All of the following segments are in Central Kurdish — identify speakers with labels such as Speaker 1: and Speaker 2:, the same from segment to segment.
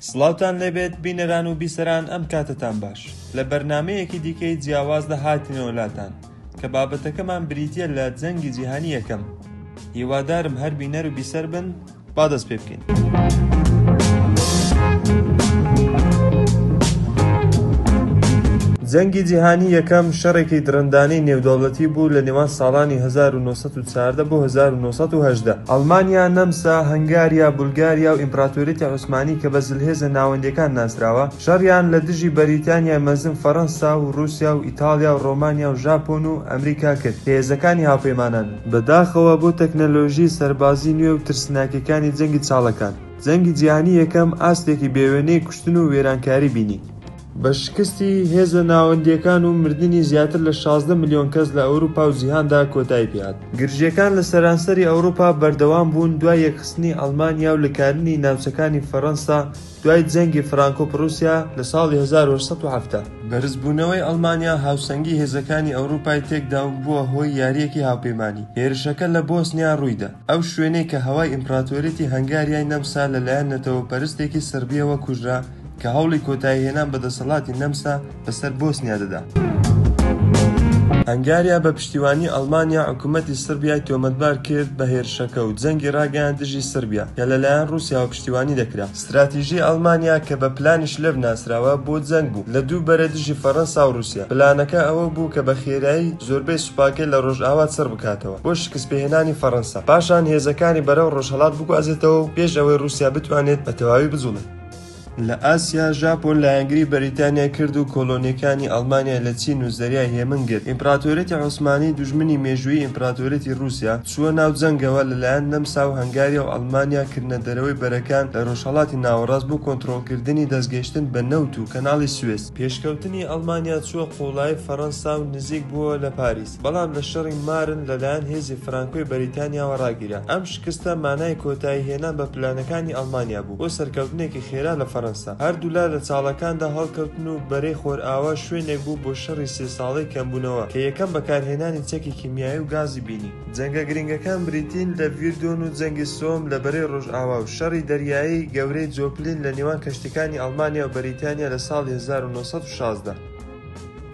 Speaker 1: سڵاوتان لێبێت بینەران و بیسەران ئەم کاتتان باش لە بەرنمەیەکی دیکەی جیاواز لە هاتنەوە لاتان کە بابەتەکەمان بریتە لە جەنگی جیهانی یەکەم هیوادارم هەر بینەر و بیسەر بن با دەست پێ بکەین. جەنگی جیهانی یەکەم شەڕێکی درندانەی نێودەوڵەتی بوو لە نێوان ساڵانی 1940 بۆ 1970. ئەڵمانیا، نەمسا، هەنگاریا، بولگاریا و ئیمپراتۆریەتی عوسمانی کە بە زلهێزە ناوەندییەکان ناسراوە، شەڕیان لە دژی بەریتانیای مەزن، فەرەنسا و ڕووسیا و ئیتاڵیا و ڕۆمانیا و ژاپۆن و ئەمریکا کرد کە هێزەکانی هاوپەیمانانن. بەداخەوە بۆ تەکنەلۆژی سەربازی نوێ و ترسناکەکانی جەنگی چاڵەکان، جەنگی جیهانی یەکەم ئاستێکی بێوێنەی کوشتن و وێرانکاری بینی. بە شکستی هێزە ناوەندییەکان و مردنی زیاتر لە شازدە ملیۆن کەس لە ئەوروپا و جیهاندا کۆتایی پێهات. گرژییەکان لە سەرانسەری ئەوروپا بەردەوام بوون دوای یەکخستنی ئەڵمانیا و لکاردنی ناوچەکانی فەرەنسا دوای جەنگی فرانکۆ-پڕوسیا لە ساڵی هەزار و هەشت سەد و حەفتا، بەرزبوونەوەی ئەڵمانیا هاوسەنگی هێزەکانی ئەوروپای تێکدا و بووە هۆی یارییەکی هاوپەیمانی، هێرشەکە لە بۆسنیا ڕوویدا، ئەو شوێنەی کە هەوای ئیمپراتۆریەتی هەنگاریای نەمسا لەلایەن نەتەوەپەرستێکی سڕبییەوە کوژرا کە هەوڵی کۆتاییهێنان بە دەسەڵاتی نەمسا بەسەر بۆسنیا دەدا. هەنگاریا بە پشتیوانی ئەڵمانیا حکومەتی سڕبیای تۆمەتبار کرد بە هێرشەکە و جەنگی ڕاگەیاند دژی سڕبیا کە لەلایەن ڕووسیاوە پشتیوانی دەکرا. ستراتیژی ئەڵمانیا کە بە پلانی شلەر ناسراوە بۆ جەنگ بوو لە دوو بەرە دژی فەڕەنسا و ڕووسیا. پلانەکە ئەوە بوو کە بە خێرایی زۆربەی سوپاکەی لە ڕۆژئاوا چڕ بکاتەوە بۆ شکستپێهێنانی فەڕەنسا، پاشان هێزەکانی بەرەو ڕۆژهەڵات بگوازێتەوە و پێش ئەوەی ڕووسیا بتوانێت بە تەواوی بجوڵێت. لە ئاسیا، ژاپۆن لایەنگری بەریتانیای کرد و کۆلۆنیەکانی ئەڵمانیای لە چین و زەریای هێمن گرت. ئیمپراتۆریەتی عوسمانی، دوژمنی مێژوویی ئیمپراتۆریەتی ڕووسیا، چووە ناو جەنگەوە، لەلایەن نەمسا و هەنگاریا و ئەڵمانیا کردنە دەرەوەی بەرەکان لە ڕۆژهەڵاتی ناوەڕاست بۆ کۆنترۆڵکردنی دەستگەیشتن بە نەوت و کەناڵی سوێس. پێشکەوتنی ئەڵمانیا چووە قوڵایی فەڕەنسا و نزیک بووەوە لە پاریس. بەڵام لە شەڕی مارن لەلایەن هێزی فرانکۆی بەریتانیاوە ڕاگیرا. ئەم شکستە مانای کۆتایی هێنان بە پلانەکانی ئەڵمانیا بوو بۆ سەرکەوتنێکی خێرا لە فەرەنسا. هەردوولا لە چاڵەکاندا هەڵکەوتن و بەرەی خۆرئاوا شوێنێک بوو بۆ شەڕی سێ ساڵەی کەمبوونەوە کە یەکەم بەکارهێنانی چەکی کیمیایی و گازی بینی. جەنگە گرنگەکان بریتین لە ڤیردۆن و جەنگی سۆم لە بەرەی ڕۆژئاوا و شەڕی دەریایی گەورەی جۆپلین لە نێوان کەشتیەکانی ئەڵمانیا و بەریتانیا لە ساڵی هەزار و نۆ سەد و شازدە.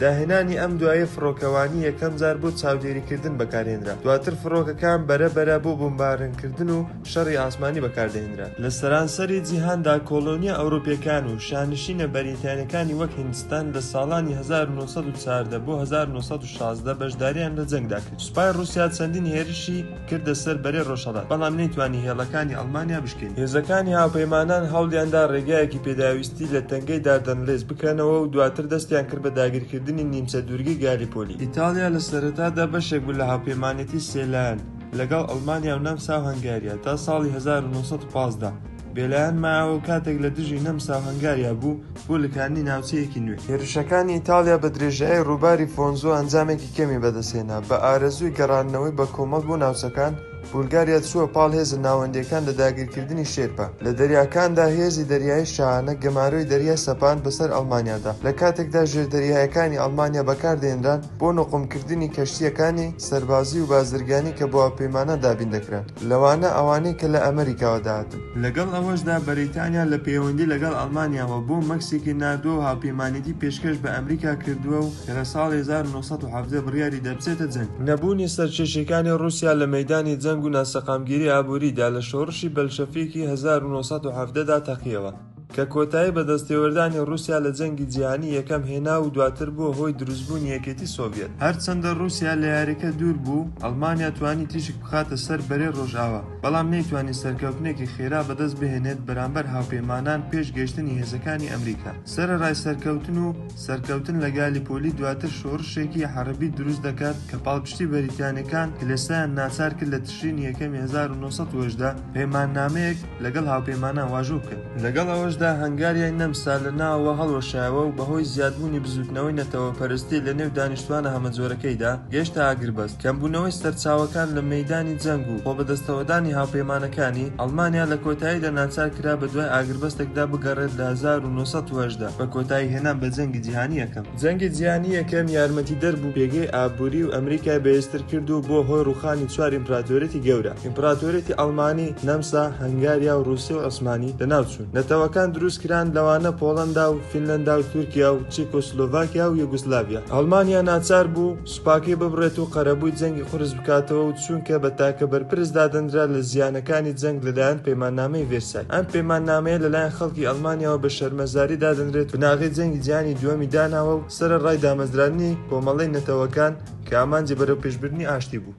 Speaker 1: داهێنانی ئەم دوایە فڕۆکەوانی یەکەمجار بۆ چاودێریکردن بەکارهێنرا دواتر فڕۆکەکان بەرە بەرە بۆ بۆمبارنکردن و شەڕی ئاسمانی بەکاردەهێنرا لە سەرانسەری جیهاندا کۆلۆنیە ئەوروپیەکان و شانشینە بەریتانیەکانی وەک هیندستان لە ساڵانی 1914 بۆ 1916 بەشداریان لە جەنگدا کرد سوپای ڕوسیا چەندین هێرشی کردە سەر بەرەی ڕۆژهەڵات، بەڵام نەیتوانی هێڵەکانی ئەڵمانیا بشکێنێت. هێزەکانی هاوپەیمانان هەوڵیاندا ڕێگایەکی پێداویستی لە تەنگەی داردەنلێس بکەنەوە و دواتر دەستیان کرد بە داگیرکردنی نیمچە دوورگەی گالیپۆلی. ئیتاڵیا لە سەرەتادا بەشێک بوو لە هاوپەیمانێتی سێ لایەن لەگەڵ ئەڵمانیا و نەمسا و هەنگاریا تا ساڵی هەزار و نۆ سەد و پازدە. بێلایەن ماوە و کاتێک لە دژی نەمسا و هەنگاریا بوو بۆ لکاندنی ناوچەیەکی نوێ هێرشەکانی ئیتاڵیا بە درێژایی ڕووباری فۆنزۆ ئەنجامێکی کەمی بەدەستهێنا بە ئارەزووی گەڕاندنەوەی بە کۆمەڵ بۆ ناوچەکان بولگاریا چووە پاڵ هێزە ناوەندیەکان لە داگیرکردنی شێرپە لە دەریاکاندا هێزی دەریایی شاهانە گەمارۆی دەریا سەپاند بەسەر ئەڵمانیادا لە کاتێکدا ژێردەریایەکانی ئەڵمانیا بەکاردەهێنران بۆ نوقمکردنی کەشتییەکانی سەربازی و بازرگانی کە بۆ هاوپەیمانان دابین دەکران، لەوانە ئەوانەی کە لە ئەمریکاوە دەهاتن. لەگەڵ ئەوەشدا بەریتانیا لە پەیوەندی لەگەڵ ئەڵمانیاوە بۆ مەکسیکی ناردووە و هاوپەیمانێتی پێشکەش بە ئەمریکا کردووە و کە لە ساڵی هەزار و نۆ سەد و حەڤدە بڕیاری دا بچێتە جەنگ. نەبوونی سەرکێشییەکانی ڕووسیا لە مەیدانی جەنگ و ناسەقامگیری ئابووریدا لە شۆڕشی بەلشەفیکی هەزار و نۆ سەد و حەڤدە دا تەقییەوە. کە کۆتایی بە دەستێوەردانی ڕووسیا لە جەنگی جیهانی یەکەم هێنا و دواتر بووە هۆی دروستبوونی یەکێتی سۆڤیەت. هەرچەندە ڕووسیا لە یارییەکە دوور بوو، ئەڵمانیا توانی تیشک بخاتە سەر بەرەی ڕۆژئاوا، بەڵام نەیتوانی سەرکەوتنێکی خێرا بەدەست بهێنێت بەرامبەر هاوپەیمانان پێش گەیشتنی هێزەکانی ئەمریکا. سەرەڕای سەرکەوتن و سەرکەوتن لە گالیپۆلی دواتر شۆڕشێکی حەڕبی دروست دەکات کە پاڵپشتی بەریتانییەکان کلێسایان ناچار کرد لە تشرینی یەکەمی هەزار و نۆ سەد و هەژدە پەیماننامەیەک لەگەڵ هاوپەیمانان واژۆ بکەن. لەگەڵ ئەوەشدا هەنگاریای نەمسا لە ناوەوە هەڵوەشایەوە و بەهۆی زیادبوونی بزووتنەوەی نەتەوەپەرستی لە نێو دانیشتوانە هەمەجۆرەکەیدا گەیشتە ئاگربەست، کەمبوونەوەی سەرچاوەکان لە مەیدانی جەنگ و خۆبەدەستەوەدانی هاوپەیمانەکانی، ئەڵمانیا لە کۆتاییدا ناچار کرا بەدوای ئاگربەستێکدا بگەڕێت لە هەزار و نۆ سەد و هەژدە بە کۆتایی هێنان بە جەنگی جیهانی یەکەم. جەنگی جیهانی یەکەم یارمەتیدەر بوو پێگەی ئابووری و ئەمریکای بەهێزتر کرد و بووە هۆی ڕووخانی چوار ئیمپراتۆریەتی گەورە ئیمپراتۆریەتی ئەڵمانی، نەمسا، هەنگاریا و ڕووسی و عوسمانی لەناوچوون. نەتەوەکان دروست کران لەوانە پۆڵەندا و فینلەندا و تورکیا و چیکۆسلۆڤاکیا و یۆگۆسلاڤیا. ئەڵمانیا ناچار بوو. سوپاکەی ببڕێت و قەرەبووی جەنگی قورس بکاتەوە و چونکە بە تاکە بەرپرس دادەنرا لە زیانەکانی جەنگ لەلایەن پەیماننامەی ڤێرسای ئەم پەیماننامەیە لەلایەن خەڵکی ئەڵمانیاوە بە شەرمەزاری دادەنرێت بناغەی جەنگی جیهانی دووەمی داناوە و سەرەڕای دامەزراندنی کۆمەڵەی نەتەوەکان کە ئامانجی بەرەوپێشبردنی ئاشتی بوو.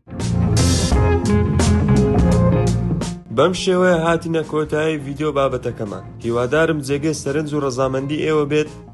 Speaker 1: بەم شێوەیە هاتینە کۆتایی ڤیدیۆ بابەتەکەمان هیوادارم جێگەی سەرنج و ڕەزامەندی ئێوە بێت،